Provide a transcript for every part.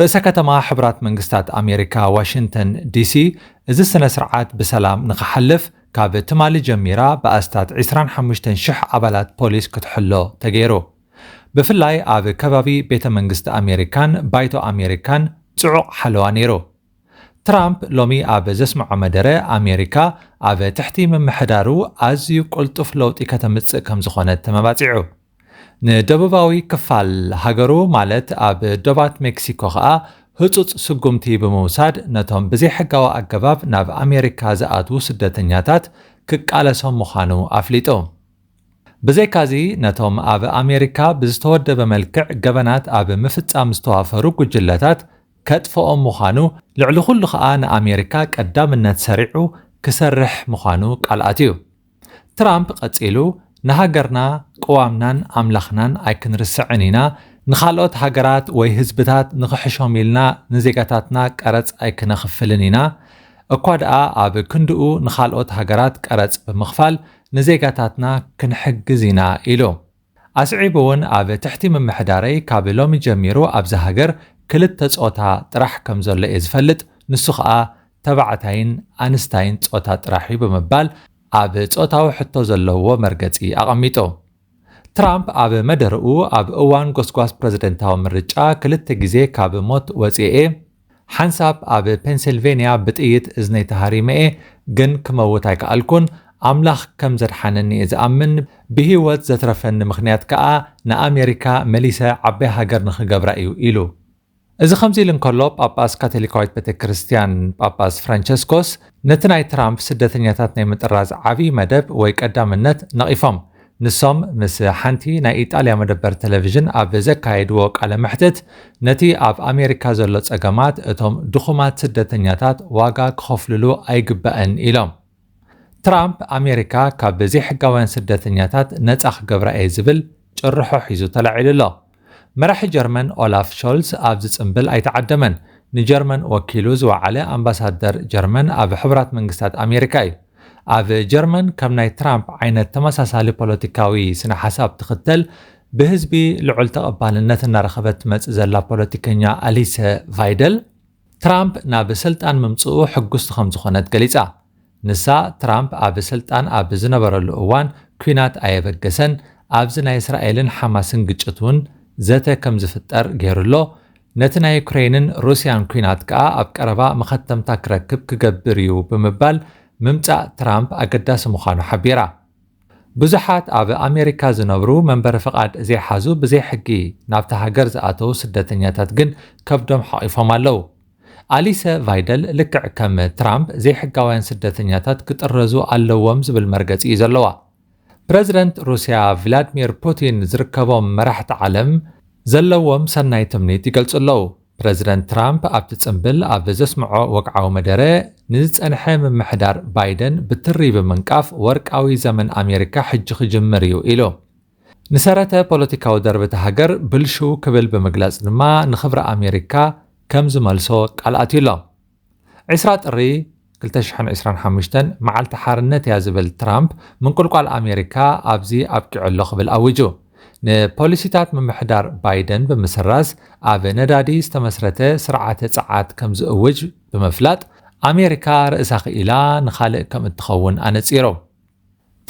ርእሰ ከተማ ሕቡራት መንግስታት ኣሜሪካ ዋሽንተን ዲሲ እዚ ስነ ስርዓት ብሰላም ንክሓልፍ ካብ ትማሊ ጀሚራ ብኣስታት ዕስራን ሓሙሽተን ሽሕ ኣባላት ፖሊስ ክትሕሎ ተገይሩ። ብፍላይ ኣብ ከባቢ ቤተ መንግስቲ ኣሜሪካን ባይቶ ኣሜሪካን ጽዑቕ ሓለዋ ነይሩ። ትራምፕ ሎሚ ኣብ ዘስምዖ መደረ ኣሜሪካ ኣብ ትሕቲ ምምሕዳሩ ኣዝዩ ቅልጡፍ ለውጢ ከተምጽእ ከምዝኾነት ተመባጺዑ። ንደቡባዊ ክፋል ሃገሩ ማለት ኣብ ዶባት ሜክሲኮ ከኣ ህጹጽ ስጉምቲ ብምውሳድ ነቶም ብዘይሕጋዊ ኣገባብ ናብ ኣሜሪካ ዝኣትዉ ስደተኛታት ክቃለሶም ምዃኑ ኣፍሊጡ። ብዘይካዚ ነቶም ኣብ ኣሜሪካ ብዝተወደበ መልክዕ ገበናት ኣብ ምፍጻም ዝተዋፈሩ ጉጅለታት ከጥፍኦም ምዃኑ ልዕሊ ኩሉ ከኣ ንኣሜሪካ ቀዳምነት ሰሪዑ ክሰርሕ ምዃኑ ቃል ኣትዩ። ትራምፕ ቀጺሉ፣ ንሃገርና፣ ቅዋምናን ኣምላኽናን ኣይክንርስዕን ኢና፣ ንኻልኦት ሃገራት ወይ ህዝብታት ንኽሕሾም ኢልና ንዜጋታትና ቀረጽ ኣይክነኽፍልን ኢና፣ እኳ ደኣ ኣብ ክንድኡ ንኻልኦት ሃገራት ቀረጽ ብምኽፋል ንዜጋታትና ክንሕግዝ ኢና ኢሉ። ኣስዒቡ'ውን ኣብ ትሕቲ ምምሕዳረይ ካብ ሎሚ ጀሚሩ ኣብዛ ሃገር ክልተ ጾታ ጥራሕ ከምዘሎ'የ ዝፈልጥ፣ ንሱ ከኣ ተባዕታይን ኣንስታይን ጾታ ጥራሕ'ዩ ብምባል ኣብ ጾታዊ ሕቶ ዘለዎ መርገጺ ኣቐሚጡ። ትራምፕ ኣብ መደረኡ ኣብ እዋን ጎስጓስ ፕረዚደንታዊ ምርጫ ክልተ ግዜ ካብ ሞት ወጺኤ'የ፣ ሓንሳብ ኣብ ፔንሲልቨንያ ብጥይት እዝነይ ተሃሪመ'የ ግን ክመውት ኣይከኣልኩን ኣምላኽ ከም ዘድሓነኒ'የ ዝኣምን ብሂወት ዘትረፈኒ ምኽንያት ከኣ ንኣሜሪካ መሊሰ ዓባይ ሃገር ንኽገብራ'ዩ ኢሉ እዚ ከምዚ ኢሉ እንከሎ ጳጳስ ካቶሊካዊት ቤተክርስትያን ጳጳስ ፍራንቸስኮስ ነቲ ናይ ትራምፕ ስደተኛታት ናይ ምጥራዝ ዓብይ መደብ ወይ ቀዳምነት ነቒፎም ንሶም ምስ ሓንቲ ናይ ኢጣልያ መደበር ተለቪዥን ኣብ ዘካየድዎ ቃለ መሕትት፣ ነቲ ኣብ ኣሜሪካ ዘሎ ጸገማት እቶም ድኹማት ስደተኛታት ዋጋ ክኸፍልሉ ኣይግባእን ኢሎም። ትራምፕ ኣሜሪካ ካብ ዘይሕጋውያን ስደተኛታት ነጻ ክገብራ'የ ዝብል ጭርሖ ሒዙ ተላዒሉ ኣሎ። መራሒ ጀርመን ኦላፍ ሾልዝ ኣብዚ ጽምብል ኣይተዓደመን። ንጀርመን ወኪሉ ዝወዓለ ኣምባሳደር ጀርመን ኣብ ሕቡራት መንግስታት ኣሜሪካ እዩ። ኣብ ጀርመን ከም ናይ ትራምፕ ዓይነት ተመሳሳሊ ፖለቲካዊ ስነ ሓሳብ ትኽተል ብህዝቢ ልዑል ተቐባልነት እናረኸበት ትመጽእ ዘላ ፖለቲከኛ ኣሊሰ ቫይደል፣ ትራምፕ ናብ ስልጣን ምምጽኡ ሕጉስቲ ከም ዝኾነት ገሊጻ። ንሳ፣ ትራምፕ ኣብ ስልጣን ኣብ ዝነበረሉ እዋን ኲናት ኣየበገሰን፣ ኣብዚ ናይ እስራኤልን ሓማስን ግጭት እውን ዘተ ከም ዝፍጠር ገይሩ ኣሎ፣ ነቲ ናይ ዩክረይንን ሩስያን ኲናት ከኣ ኣብ ቀረባ መኸተምታ ክረክብ ክገብር እዩ ብምባል ምምጻእ ትራምፕ ኣገዳሲ ምዃኑ ሓቢራ። ብዙሓት ኣብ ኣሜሪካ ዝነብሩ መንበሪ ፍቓድ ዘይሓዙ ብዘይ ሕጊ ናብታ ሃገር ዝኣተዉ ስደተኛታት ግን ከብዶም ሓቚፎም ኣለዉ። ኣሊሰ ቫይደል ልክዕ ከም ትራምፕ ዘይሕጋውያን ስደተኛታት ክጥረዙ ኣለዎም ዝብል መርገጺ እዩ ዘለዋ። ፕረዚደንት ሩስያ ቭላድሚር ፑቲን ዝርከቦም መራሕቲ ዓለም ዘለዎም ሰናይ ትምኒት ይገልጹ ኣለዉ። ፕረዚደንት ትራምፕ ኣብቲ ጽምብል ኣብ ዘስምዖ ወግዓዊ መደረ፣ ንዝጸንሐ ምምሕዳር ባይደን ብትሪ ብምንቃፍ ወርቃዊ ዘመን ኣሜሪካ ሕጂ ክጅምር እዩ ኢሉ። ንሰረተ ፖለቲካዊ ደርቢ እታ ሃገር ብልሽው ክብል ብምግላጽ ድማ ንኽብሪ ኣሜሪካ ከም ዝመልሶ ቃል ኣትዩ ኣሎ። ዒስራ ጥሪ ክልተ ሽሕን ዒስራን ሓሙሽተን መዓልቲ ሓርነት እያ ዝብል ትራምፕ ምንቁልቋል ኣሜሪካ ኣብዚ ኣብቂዑ ኣሎ ክብል ኣዊጁ። ንፖሊሲታት ምምሕዳር ባይደን ብምስራዝ ኣብ ነዳዲ ዝተመስረተ ስርዓተ ጸዓት ከምዝእውጅ ብምፍላጥ ኣሜሪካ ርእሳ ክኢላ ንኻልእ ከምእትኸውን ኣነጺሩ።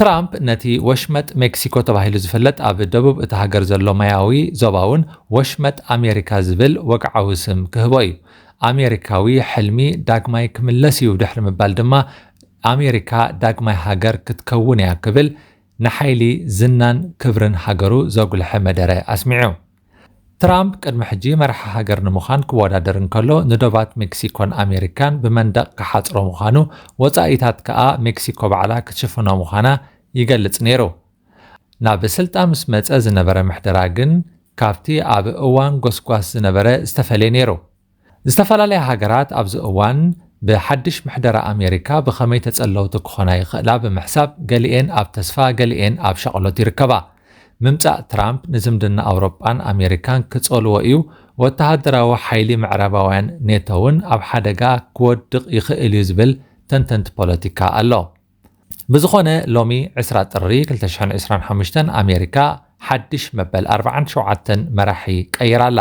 ትራምፕ ነቲ ወሽመጥ ሜክሲኮ ተባሂሉ ዝፍለጥ ኣብ ደቡብ እታ ሃገር ዘሎ ማያዊ ዞባ'ውን ወሽመጥ ኣሜሪካ ዝብል ወግዓዊ ስም ክህቦ እዩ። ኣሜሪካዊ ሕልሚ ዳግማይ ክምለስ እዩ ድሕሪ ምባል ድማ ኣሜሪካ ዳግማይ ሃገር ክትከውን እያ ክብል ንሓይሊ ዝናን ክብርን ሃገሩ ዘጉልሐ መደረ ኣስሚዑ። ትራምፕ ቅድሚ ሕጂ መራሒ ሃገር ንምዃን ክወዳደር እንከሎ ንዶባት ሜክሲኮን ኣሜሪካን ብመንደቕ ክሓጽሮ ምዃኑ ወጻኢታት ከኣ ሜክሲኮ ባዕላ ክትሽፍኖ ምዃና ይገልጽ ነይሩ። ናብ ስልጣን ምስ መጸ ዝነበረ ምሕደራ ግን ካብቲ ኣብ እዋን ጎስጓስ ዝነበረ ዝተፈልየ ነይሩ። ዝተፈላለያ ሃገራት ኣብዚ እዋን ብሓድሽ ምሕደራ ኣሜሪካ ብኸመይ ተጸለውቲ ክኾና ይኽእላ ብምሕሳብ ገሊኤን ኣብ ተስፋ ገሊኤን ኣብ ሻቕሎት ይርከባ። ምምጻእ ትራምፕ ንዝምድና ኣውሮጳን ኣሜሪካን ክጸልዎ እዩ፣ ወተሃደራዊ ሓይሊ ምዕራባውያን ኔቶ'ውን ኣብ ሓደጋ ክወድቕ ይኽእል'ዩ ዝብል ተንተንቲ ፖለቲካ ኣሎ። ብዝኾነ ሎሚ ዕስራ ጥሪ ክልተ ሽሕን ዕስራን ሓሙሽተን ኣሜሪካ ሓድሽ መበል ኣርብዓን ሸውዓተን መራሒ ቀይራ ኣላ።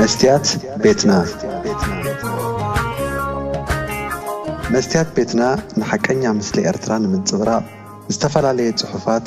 መስትያት ቤትና መስትያት ቤትና ንሓቀኛ ምስሊ ኤርትራ ንምንጽብራቕ ዝተፈላለየ ጽሑፋት፣